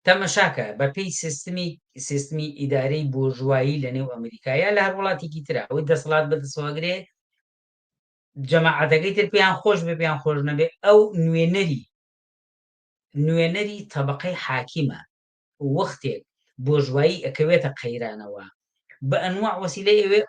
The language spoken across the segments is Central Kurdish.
تەمەشاکە، بە پێی سیستمی سیستمی ئیدارەی بۆرژوایی لە نێو ئەمریکا یا لە هەر وڵاتێکی ترا ئەوەی دەسەڵات بە دەسەواگرێ جەماعەتەکەی تر پێیان خۆش بێ پێیان خۆش نەبێ ئەو نوێنەری نوێنەری تەبقەی حاکیمە وەختێک بۆژوایی ئەکەوێتە قەیرانەوە بە ئەنوع وەسیلەی ئەوێ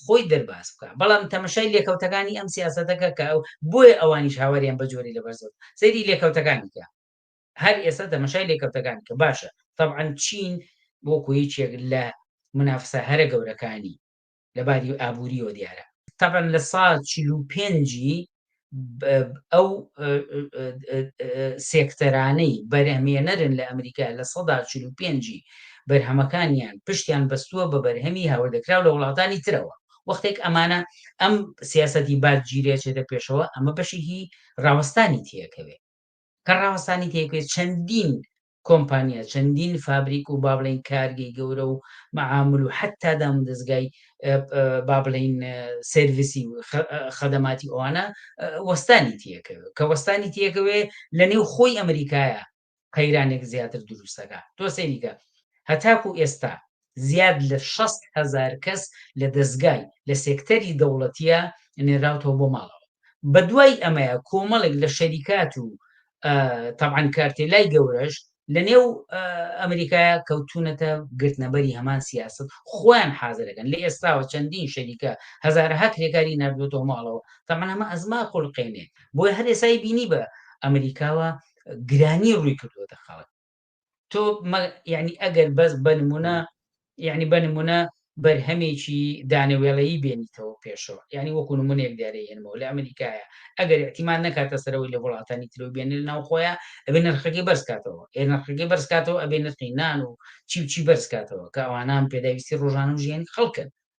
خۆی دەرباز بکە بەڵام تەمەشای لێکەوتەکانی ئەم سیاستەکە کە ئەو بۆیە ئەوانیش هاواریان بە جۆری لە بەرزەوە سەیری لێکەوتەکانیکە هەر ئێستا تەمەشای لێکەوتەکان کە باشە تەبعەن چین وەکو یەکێک لە منافسە هەرە گەورەکانی لە باری ئابووریەوە دیارە تەبەن لە سا چل و پێنجی ئەو سێکتەرانەی بەرهمێنەرن لە ئەمریکا لە سەدا چل و پێنجی بەرهەمەکانیان پشتیان بەستووە بە بەرهەمی هاوردەکراو لە وڵاتانی ترەوە وەختێک ئەمانە ئەم سیاستی بادگیرێچێتە پێشەوە ئەمە بەشێکی ڕاوەستانی تێکەوێ کە ڕاوەستانی تێکبێت چەندین کۆمپانیا چەندین فابریک و بابلین کارگەی گەورە و مەعامل و حتا دام دەستگای بابلین سرویسی و خەدەماتی ئەوانە وەستانی تیەکەوێت کە وەستانی تیەکەوێ لە نێو خۆی ئەمریکایە قەیرانێک زیاتر دروستەکە تۆ سەیریکە هەتاکو ئێستا زیاد لە شەست هەزار کەس لە دەزگای لە سێکتەری دەوڵەتیە نێراوتەوە بۆ ماڵەوە بەدوای ئەمەیە کۆمەڵێک لە شەریکات و تەبعەن کارتێلای گەورەش لە نێو ئەمریکایە کەوتونەتە گرتنەبەری هەمان سیاست خۆیان حازرەکەن لە ئێستاوە چەندین شەریکە هزارها کرێکاری نردوێتەوە ماڵەوە تەمان ئەمە ئەزما قولقێنێ بۆی هەر ئێسای بینی بە ئەمریکاوە گرانی ڕووی کردوەتە خەڵک تۆ یعنی ئەگەر بەس بە نمونە یعنی بە نمونە بەرهەمێکی دانەوێڵەیی بێنیتەوە پێشەوە یعنی وەکو نمونێک دارێ هێنمەوە لە ئەمریکایە ئەگەر احتیمان نەکاتە سەرەوەی لە وڵاتانی ترو بێنە ناو خۆیان ئەبێ نرخەکەی بەرزکاتەوە ئێ نرخەکەی بەرزکاتەوە ئەبێ نرخی نان و چی و چی بەرزکاتەوە کە ئەوانان پێداویستی ڕۆژانە و ژیانی خەڵکن